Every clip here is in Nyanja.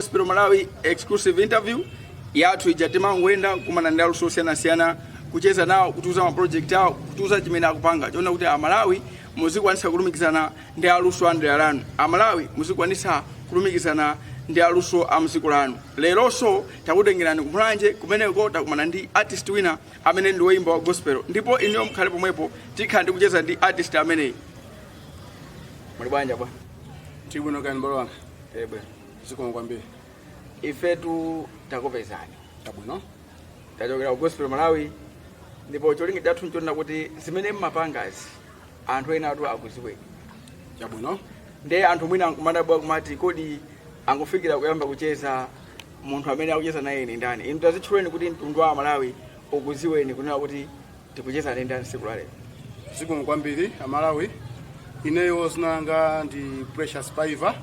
Gospel Malawi exclusive interview yathu ija timangoyenda kukumana ndi aluso osiyanasiyana kucheza nawo kutiuza ma project awo kutiuza chimene akupanga chona kuti amalawi muzikwanisa kulumikizana ndi aluso a mdera lanu amalawi muzikwanisa kulumikizana ndi aluso a mziko lanu leronso takutengerani kumulanje kumeneko takumana ndi artist wina amene ndi woyimba wa gospel ndipo inuyo mukhale pomwepo tikhala ndi kucheza ndi artist ameneyi muli bwanji bwana Tili bwino kani mbale wanga. ebe zikomo kwambiri ifetu takupezani chabwino tachokera ku gospel malawi ndipo cholinga chathu nchonena kuti zimene mmapangazi anthu ena atu akuziweni chabwino ndiye anthu mwina akumadabwa kumati kodi angofikira kuyamba kucheza munthu amene akucheza naye ni ndani inu tazitchuleni kuti mtundu wa malawi ukuziweni kunena kuti tikucheza ndi ndani tsiku la lero zikomo kwambiri amalawi ineyo zina langa ndi precious paiva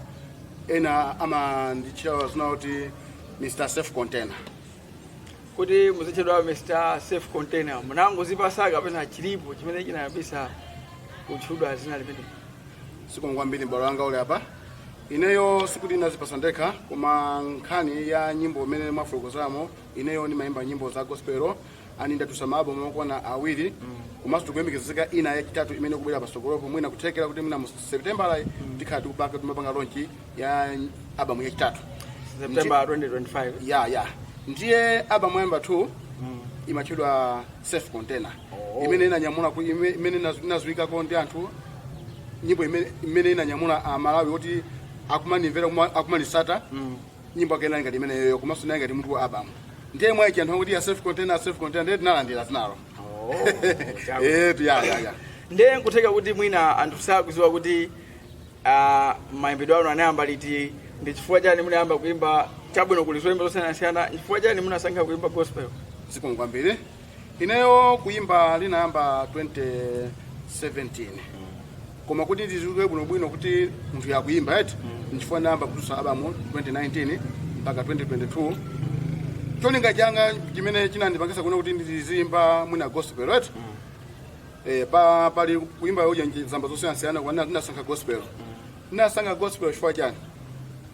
ena amanditchula zina kuti mr safe container kuti muzitchedwa mr safe container munangozipasa kapena chilipo chimene chinayambisa kutchudwa zina limeneli zikomo kwambiri mbale wanga uli apa ineyo sikuti ndinazipasa ndekha koma nkhani ya nyimbo imene mwafotokozamo ineyo ndimayimba nyimbo za gospel and ndatusa ma album okwana awiri komanso tikuyembekezeka ina yachitatu imene ikubwera pasogolopo mwina kuthekera kuti mwina mu september tikhala tikupanga timapanga launch ya album yachitatu september 2025 ya ya ndiye album yoyambatu imatchedwa safe container imene inanyamula ku- ime- imene inazi- inaziwikako ndi anthu nyimbo imene- imene inanyamula amalawi kuti akumanimvera kuma- akumanisata nyimbo yake inali ngati imeneyoyo komanso inali ngati mutu wa album ndiye mwa ichi anthu akuti ya safe container ya safe container ndiye tinalandira zinalo eti ya ya ya ndiye nkutheka kuti mwina anthu sakuziwa kuti ah, mayimbidwe anu anayamba liti ndi chifukwa chani munayamba kuimba chabwino kuli zoimba zosiyanasiyana chifukwa chani munasankha kuimba gospel zikomo kwambiri Ineyo kuyimba ndinayamba 2017 koma kuti ndiziwike bwinobwino kuti munthuyu akuyimba eti nchifukwa ndayamba kutulutsa album 2019 mpaka 2022 cholinga changa chimene chinandipangisa kunena kuti ndiziyimba mwina gospel eti eh, pa pali kuyimba uja zamba zosiyanasiyana koma ndinasankha gospel ndinasankha gospel chifukwa chani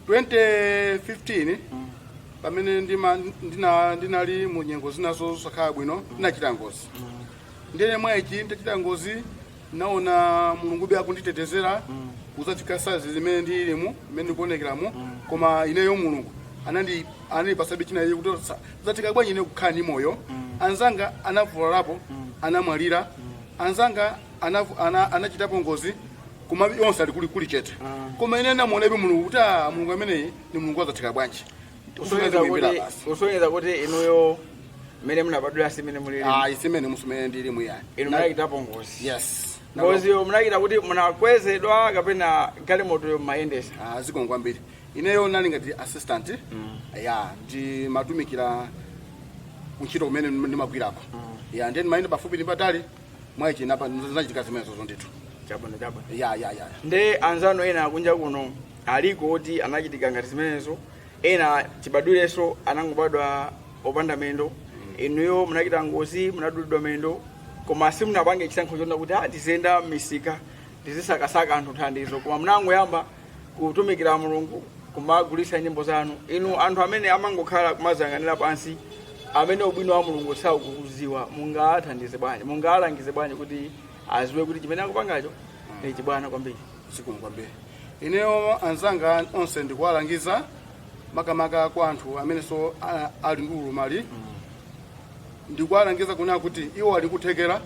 2015 pamene ndima- ndina- ndinali mu nyengo zina zosakhala bwino ndinachita ngozi ndiye mwa ichi nditachita ngozi naona mulungube akunditetezera kuzafika size imene ndilimo imene ndikuonekeramo koma ineyo mulungu anandi anandipasabe china iye kuti sa- zatheka bwanji ine kukhala ndi moyo anzanga anavulalapo anamwalira anzanga anavu- ana- anachitapo ngozi koma onse ali kuli kuli chete koma ine namuonabe mulungu kuti ah, mulungu ameneyi ni mulungu wazatheka bwanji Usonyeza Usonyeza muimbira kuti- basi. kusonyeza kuti inuyo mmene munabadwira si mmene mulili Ah, si mmene mu- si mmene ndilimu ayi inu munachitapo ngozi yes ngoziyo munachita kuti munakwezedwa kapena galimotoyo mmayendesa Ah, zikomo kwambiri ineyo nali ngati assistant ya ndimatumikira kuntchito kumene nim- ndimagwirako ya ndiye ndimayenda pafupi ndi patali mwa ichi napa zinachitika zimenezozo ndithu chabwino chabwino ya ya ya nde anzanu ena kunja kuno aliko oti anachitika ngati zimenezo ena chibadwireso anangobadwa opanda mendo inuyo munachita ngozi munadulidwa mendo koma simunapange chisankho chonena kuti ah, ndiziyenda m'misika ndizisakasaka anthu thandizo koma munangoyamba kutumikira mulungu kumagulitsa nyimbo zanu inu anthu amene amangokhala kumaziyang'anira pansi amene ubwino wa mulungu sakuuziwa mungathandize bwanji mungalangize bwanji kuti aziwe kuti chimene akupangacho ndi chibwana kwambiri zikomo kwambiri ineyo anzanga onse ndikuwalangiza makamaka kwa anthu amenenso a- ali ndi ulumali ndikuwalangiza kunena kuti iwo ali kuthekera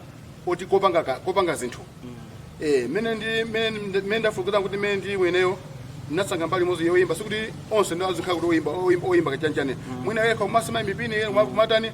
kuti kopanga ka- kopanga zinthu Eh, mene ndi mene ndi- mene ndafotokozera kuti mene ndili ineyo ndinasankha mbali imodzi yoyimba sikuti onse nde azikhala kuti oyimba oyimba- oyimba kachanjane mwina kaya kumasema mipini kaya kumatani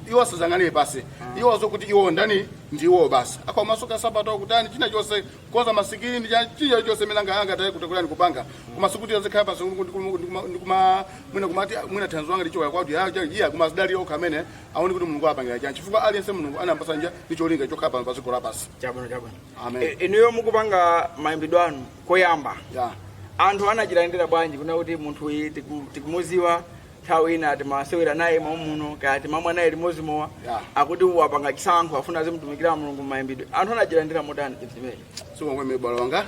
iwo asaziyang'anire pansi iwo aziwe kuti iwo ndani ndiwo basi kaya kumasoka sapato kutani china chonse kukonza masikini ndi cha- china chonse mene anga- angathe kutokolani kupanga koma sikuti azikhala pansi ndikuma mwina kumati ah, mwina thandizo langa lichoka kuti ya ya- iya koma azidalire okha amene aone kuti mulungu apangira chani chifukwa aliyense mulungu anampasa njira ndi cholinga chokhala pano pa dziko lapansi chabwino chabwino Amen. E- inuyo mukupanga mayimbidwe anu koyamba ya anthu anachilandira bwanji kunena kuti munthu uyu tiku- tikumuziwa nthawi ina timasewera naye mommuno kaya timamwa naye limodzi mowa Yeah. akuti wapanga chisankho afuna azimtumikira mulungu mmayimbidwe anthu anachilandira motani chinthu chimenechi zikomo kwambiri m'bale wanga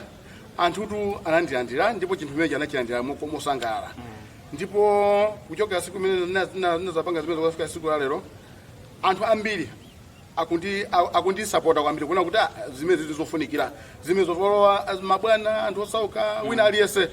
anthutu anandilandira ndipo chinthu chimenechi anachilandira moko- mosangalala ndipo kuchokera siku imene na- na- nazapanga zimenezi kufika siku la lero anthu ambiri akundi a- akundisapota kwambiri kuona kuti ah, zimenezi ndi zofunikira zimenezo olo mabwana anthu osauka wina aliyense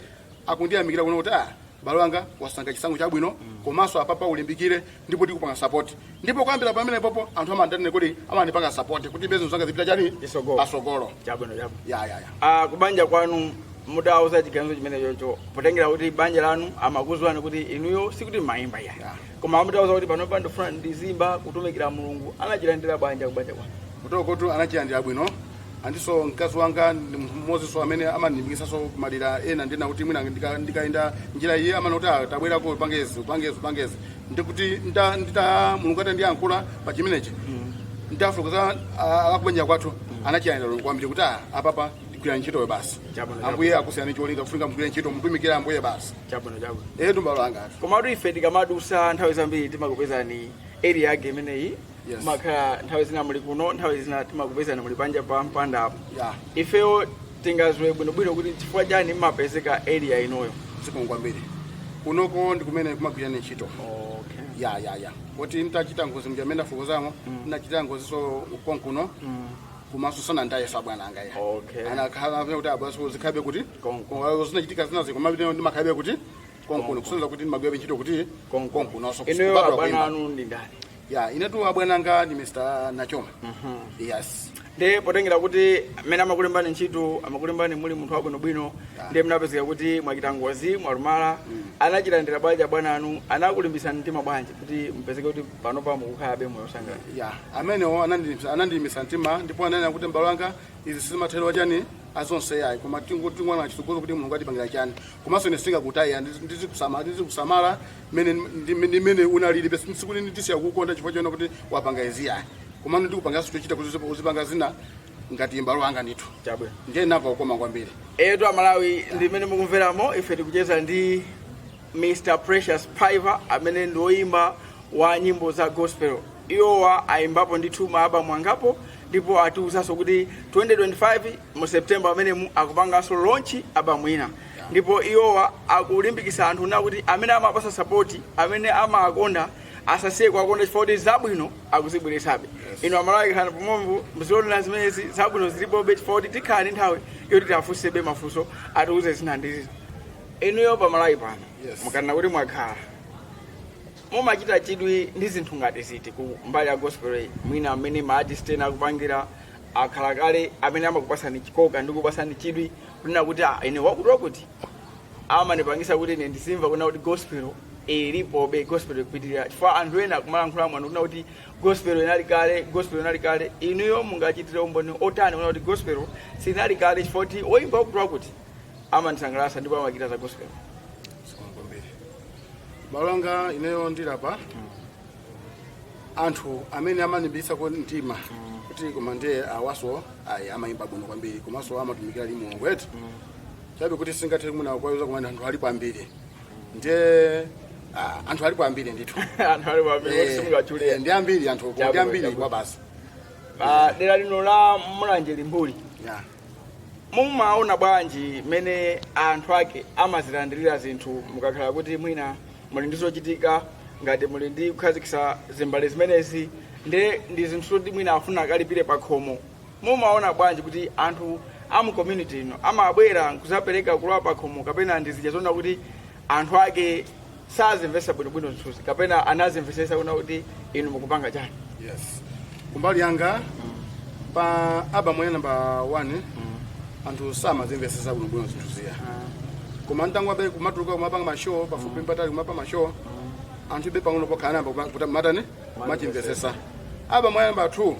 akundiyamikira kunena kuti ah m'bale wanga wasankha chisankho chabwino komanso apapa ulimbikire ndipo tikupanga support ndipo kuyambira pamenepopo anthu amandanene kuti amandipanga support kuti business zanga zipite chani pasogolo. pasogolo chabwino chabwino ya ya ya Ah, kubanja kwanu mutawauza chiganizo chimenechocho potengera kuti banja lanu amakuziwani kuti inuyo sikuti mumaimba ya Yeah. koma mutawauza kuti panopa ndifuna ndizimba kutumikira mulungu anachilandira bwanji kubanja kwanu kwathukotu anachilandira bwino andinso mkazi wanga ndi munthu mmodzinso amene amandilimbikitsanso kumadera ena ndina kuti mwina ndika- ndikayenda njira iye amanena kuti "Ah, tabwerako upangezi upangezi upangezi ndikuti nda- ndita mulungu atandiyankhula pa chimenechi ndafulukiza akubanja kwathu anachilandira kwambiri kuti "Ah, apapa ndigwira ntchitoyo basi Chabwino, chabwino. ambuye akusiyani cholinga kufunika mugwire ntchito mutumikire ambuye basi chabwino chabwino etu mbale wanga komatu ife tikamadusa nthawi zambiri timakupezani area yake imeneyi Yes. makhala nthawi zina muli kuno nthawi zina timakupezani muli panja pa mpanda apo Yeah. ifeyo tingaziwe bwinobwino kuti chifukwa chani mmapezeka area inoyo zikomo kwambiri kunoko ndi kumene ndimagwira ntchito okay. ya ya ya kuti nditachita ngozi mja mmene ndafotokozamo ndinachita ngoziso konkuno komanso sanandisiye bwana anga ya Okay. anakhala kuti abasi zikhabe kuti Konko. Koma zinachitika zinazi koma kuti ndimakhabe kuti konkuno kusonyeza kuti ndimagwirabe ntchito kuti konkunonso inuyo abwana anu ndi ndani ya inetu abwana anga ndi mr nachoma yes nde potengera kuti mmene amakulembani ntchito amakulembani muli munthu wabwinobwino ndiye mnapezeka kuti mwachita ngozi mwalumala anachilandira bwanji abwana anu anakulimbisani mtima bwanji kuti mpezeke kuti panopa mukukhalabe moyo wosangalala ya amenewo anandi- anandilimbisa mtima ndipo ananena kuti mbale wanga izi si mathero a chani a zonse yayi koma tingoona chitsogozo kuti mulungu atipangira chani komanso ine sindingakutaye ndizikusamala ndizikusamala mene ndi- ndi mene unalili basi sikuti ndisiya kukonda chifukwa chonena kuti wapanga izi yayi koma ndikupangaso chochita kuti uzipa- uzipanga zina ngati mbale wanga ndithu chabwino ndiye ndinamva ukoma kwambiri etu amalawi ndimene mukumveramo ife tikucheza ndi Mr Precious Piver amene ndi oyimba wa nyimbo za gospel iwowa ayimbapo ndithu ma album angapo ndipo atiwuzanso kuti 2025 mu September amenemu akupanganso launch album ina ndipo iwowa akulimbikitsa anthu kunena kuti amene amawapasa sapoti amene amawakonda asasiye kuwakonda chifukwa kuti zabwino akuzibweretsabe inu amalawi khalani pomwepo muzionera zimenezi zabwino zilipobe chifukwa kuti tikhala ndi nthawi yoti tiwafunsebe mafunso atiwuze zina ndi zina inuyo pamalawi pano Yes. mukanena kuti mwakhala mumachita chidwi ndi zinthu ngati ziti ku mbali ya gospel iyi mwina amene maartist ena akupangira akhala kale amene amakupasani chikoka ndi kupasani chidwi kunena kuti "Ah, ine wakuti wakuti amanipangisa kuti ine ndizimva kunena kuti gospel ilipobe gospel ikupitirira chifukwa anthu ena akumalankhula mwanu kunena kuti gospel inali kale gospel inali kale inuyo mungachitire umboni wotani kunena kuti gospel sinali kale chifukwa kuti oyimba wakuti wakuti amandisangalatsa ndipo amachita za gospel zikomo kwambiri balonga ineyo ndi alipo anthu amene amanilimbitsako mtima kuti koma ndiye awaso ayi amayimba bwino kwambiri komanso amatumikira ndi mulungu wetu chabe kuti sindingathe mwina kuwauza koma anthu alipo ambiri ndiye ah, anthu alipo ambiri ndithu anthu alipo ambiri kuti Eh, eh, simungatchule ndi ambiri anthu Chabwino, ndi ambiri chabwino. kwa basi pa dera lino la mulanje limbuli yeah. mumaona bwanji mmene anthu ake amazilandirira zinthu mukakhala kuti mwina muli ndi zochitika ngati muli ndi kukhazikitsa zimbale zimenezi nde ndi zinthu zoti mwina afuna akalipire pa khomo mumaona bwanji kuti anthu a mu community ino amabwera nkuzapereka kulowa pa khomo kapena ndi zija zonena kuti anthu ake sazimvesa bwinobwino zinthuzi kapena anazimvesesa kunena kuti inu mukupanga chani yes kumbali yanga pa abamu ya namba 1 anthu samazimvesesa bwinobwino zinthu zija koma nditangoyamba kumatuluka kumapanga mashow pafupi mpatali kumapanga mashow anthu ndiye pang'ono pokha anayamba kupa- kuta- matani kumachimvesesa abamu ya namba 2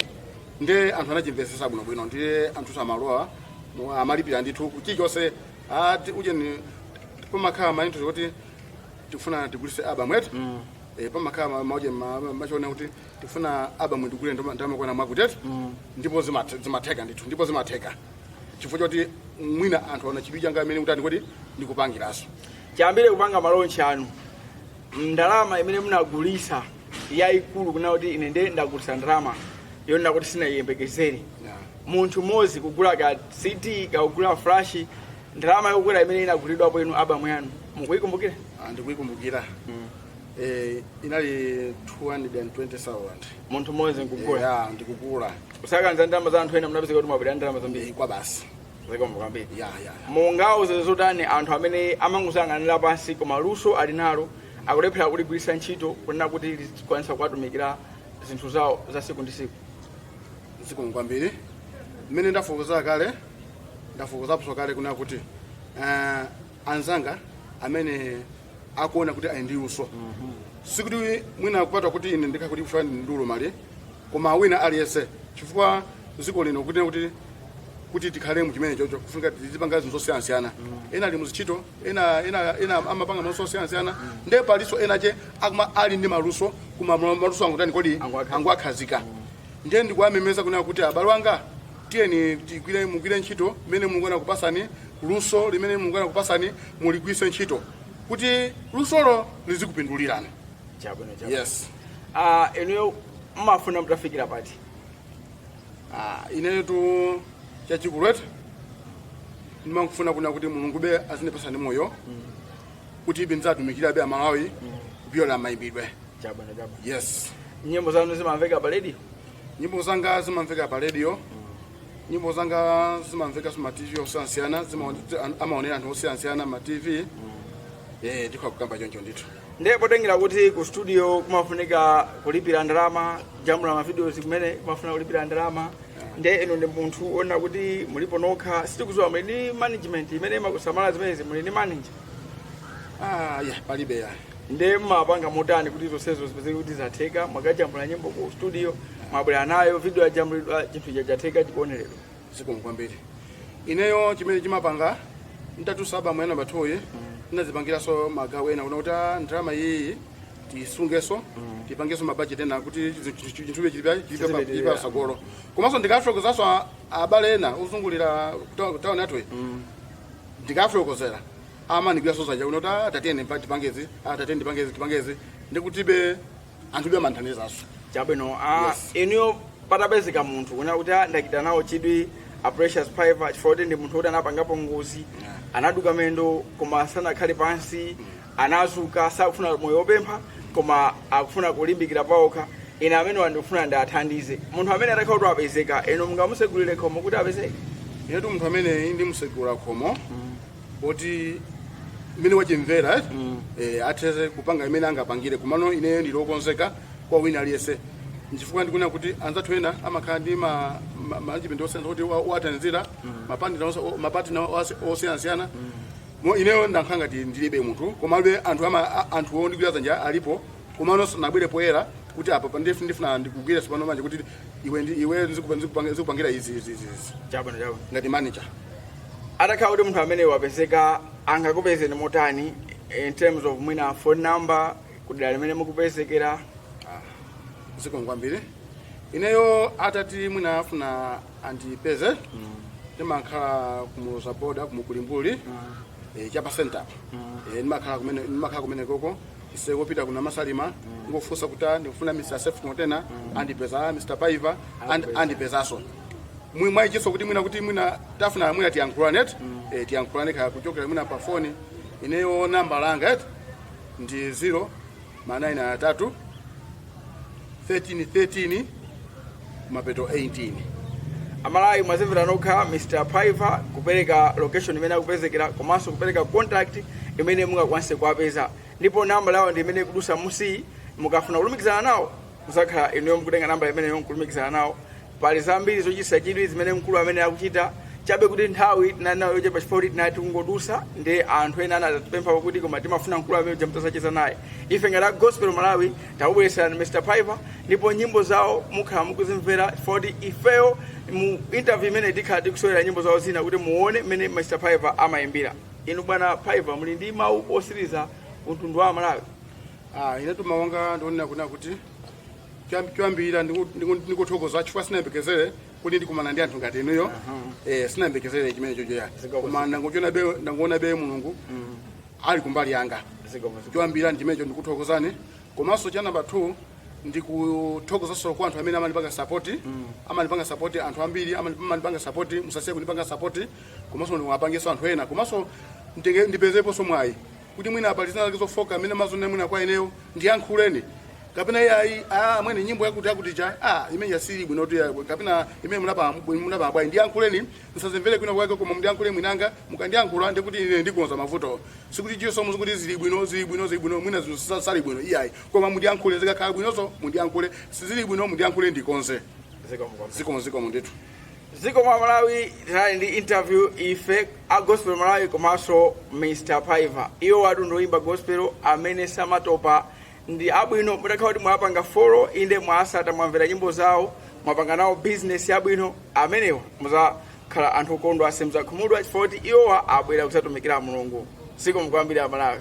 ndiye anthu anachimvesesa bwinobwino ndiye anthu amalowa mu- amalipira ndithu chilichonse ati ujeni pamakhala mazinthu akuti tikufuna tigulise album eti Eh, pamakhala ma- mauje ma- ma- machona kuti tikufuna album ndigule ndoma- ndamakwana mwakuti eti ndipo zimathe- zimatheka ndithu ndipo zimatheka chifukwa choti mwina anthu aona chidwi changa chimene ndikutani kodi ndikupangiranso chiyambire kupanga malonchi anu ndalama imene munagulisa yayikulu kunena kuti ine nde ndagulisa ndalama yonena kuti sinayiyembekezere munthu mmodzi kugula ka cd kaya kugula flash ndalama yokwera imene inagulidwapo inu abamu yanu mukuyikumbukira Ah, ndikuyikumbukira eh, inali 220000 munthu mmodzi nkugula ya ndikugula kusakanza ndalama za anthu ena munapezeka kuti mwabwera ndalama zambiri kwa basi zikomo kwambiri ya ya mungauze zotani anthu amene amangozang'anira pansi koma luso ali nalo akulephera kuligwiritsa ntchito kunena kuti likwanise kuwatumikira zinthu zawo za siku ndi siku zikomo kwambiri mmene ndafotokozera kale ndafotokozaponso kale kunena kuti eh, anzanga amene akuona kuti ali ndi luso sikuti mwina akupatwa kuti ine ndikakuti kufa ndiulo mali koma wina aliyense chifukwa dziko lino kuti kuti kuti tikhale mu chimene chocho kufunika tizipanga zinthu zosiyanasiyana ena ali muzintchito ena ena ena amapanga maluso osiyanasiyana ndiye palinso ena ake amene ali ndi maluso koma maluso angotani kodi Angowakhazika. angowakhazika ndiye ndikuwamemeza kunena kuti abale anga tiyeni mugwire ntchito mmene mulungu anakupasani luso limene mulungu anakupasani muligwiritse ntchito kuti lusolo lizikupindulirani chabwino chabwino yes ah inuyo mmafuna mtafikira pati Ah, inetu chachikulu eti ndimangofuna kuna kuti mulungube azindipasabe moyo kuti ibe ndidzatumikirebe amalawi kupyolera mayimbidwe chabwino chabwino yes nyimbo zanu zimamveka pa radio Nyimbo zanga zimamveka pa radio, nyimbo zanga zimamveka ma TV osiyanasiyana, zima- an- amaonera anthu osiyanasiyana ma TV. Eh, ndikhoza kukamba choncho ndithu. ndiye potengera kuti ku studio kumafunika kulipira ndalama kujambula mavideos kumene kumafuna kulipira ndalama ndiye inu ndi munthu oona kuti mulipo nokha sitikuziwa muli ndi management imene imakusamala zimenezi muli ndi manager Ah, ya palibe ya nde mmapanga motani kuti zonsezo zipezeke kuti zatheka mwakajambula nyimbo ku studio mwabwera nayo video yajambulidwa chinthu icho chatheka chikuoneredwa zikomo kwambiri ineyo chimene chimapanga ntatulutsa album ya namba 2 yi ndinazipangiranso magawo ena kuna kuti ah, ndalama iyiyi tisungenso tipangenso mabajeti ena kuti chinthube Chizipitirira. chilipa tsogolo komanso ndikafotokozanso abale ena ozungulira kutauni yathu iyi ndikafotokozera amandigwiranso dzanja kunena kuti "Ah, tatiyeni mpa- tipangezi ah, tatiyeni tipangezi tipangezi ndikutibe anthube amandithandizanso chabwino ah, Yes. inuyo patapezeka munthu kunena kuti "Ah, ndachita nawo chidwi a precious piper chifukwa kuti ndi munthu kuti anapangapo ngozi Yeah. anaduka mendo koma sanakhale pansi anazuka sakufuna moyo wopempha koma akufuna kulimbikira paokha ine amenewa ndikufuna ndiathandize munthu amene atakhala kuti wapezeka inu mungamusegulire khomo kuti apezeke inetu munthu ameneyi ndimusegulira khomo kuti mmene wachimvera eh, eh, atheze kupanga mmene angapangire komano ineyo ndili okonzeka kwa wina aliyense nchifukwa ndikuna kuti anzathu ena amakhala ndi ma- ma- management osiyana kuti wa- wathandizira mapatina osiyanasiyana Mo ineyo ndakhala ngati ndilibe munthu komabe anthu ama anthu ondigwira dzanja alipo komano sanabwere poyera kuti apa pandefu ndifuna ndikugwire tsopano manje kuti iwe ndi iwe nzikupa- nzikupanga- nzikupangira izi izi izi izi chabwino chabwino ngati manager atakhala kuti munthu amene wapezeka angakupezeni motani in terms of mwina phone number kudera limene mukupezekera zikomo kwambiri ineyo atati mwina afuna andipeze ndimakhala ku Muloza boda kumuku Limbuli eh, chapa center Eh, ndimakhala kumene ndimakhala kumenekoko ise kopita kuna masalima ingofunsa kuti ah, ndikufuna mr sef container andipeza ah, mr piper and- andipezaso mwi mwaichiso kuti mwina kuti mwina tafuna mwina tiyankhulane eti eh, tiyankhulane kaya kuchokera mwina pa foni ineyo namba langa eti ndi 0 ma 9 atatu 13 13 mapeto 18 a Malawi mwazimvera nokha mr piper kupereka location imene akupezekera komanso kupereka contact imene mungakwanise kuwapeza ndipo nambala yawo ndi imene ikudusa musi mukafuna kulumikizana nawo muzakhala inuyo mukutenga namba imeneyi nkulumikizana nawo pali zambiri zochititsa chidwi zimene mkulu ameneyu akuchita chabe kuti nthawi tinali nayo yochepa chifukwa kuti tinali tikungodusa ndi anthu ena anatipempha kuti koma timafuna mkulu ameneuja mutazacheza naye ife ngati a gospel malawi takubweretserani mr piper ndipo nyimbo zawo mukhala mukuzimvera chifukwa kuti ifeyo mu interview imeneyi tikhala tikusewera nyimbo zawo zina kuti muone mmene mr piper amayimbira inu bwana piper muli ndi mawu otsiriza kwa mtundu wa malawi Ah, inetu mawu anga ndi onena kunena kuti choyamb- choyambirira ndiku- ndiku- ndikuthokoza chifukwa sinayembekezere kuti ndikumana ndi anthu ngati inuyo eh, sinayembekezere chimenecho iyayi koma ndangoonabe ndangoonabe mulungu ali kumbali yanga choyambirira ndi chimenecho ndikuthokozani komanso cha namba 2 ndikuthokozanso kwa anthu amene amanipanga sapoti amanipanga sapoti anthu ambiri amani- amanipanga sapoti musasiye kunipanga sapoti komanso muwapangenso anthu ena komanso ndinge- ndipezeponso mwayi kuti mwina pali zina zake zofoka zimene mumaziona mwina kwa ineyo ndiyankhuleni kapena iyayi ah, amwene nyimbo yakuti yakuti ija ah, imene ija sili bwino kuti ya- kapena imeneyi munapha munapha bwanji ndiyankhuleni ndisazimvere kwina kwake koma mundiyankhule mwini wake mukandiyankhula ndi kuti ine ndikonza mavuto sikuti chisomo muzikuti zili bwino zili bwino zili bwino mwina zinthu sa- sali bwino iyayi koma mundiyankhule zikakhala bwinonso mundiyankhule sizili bwino mundiyankhule ndikonze zikomo zikomo ndithu zikomo a malawi tinali ndi interview ife a gospel malawi komanso mr piper iwowatu ndi oyimba gospel amene samatopa ndi abwino mutakhala kuti mwapanga follow inde mwawatsata mwamvera nyimbo zawo mwapanga nawo business abwino amenewa muzakhala anthu okondwa simuzakhumudwa chifukwa kuti iwowa abwera kuzatumikira mulungu zikomo kwambiri a malawi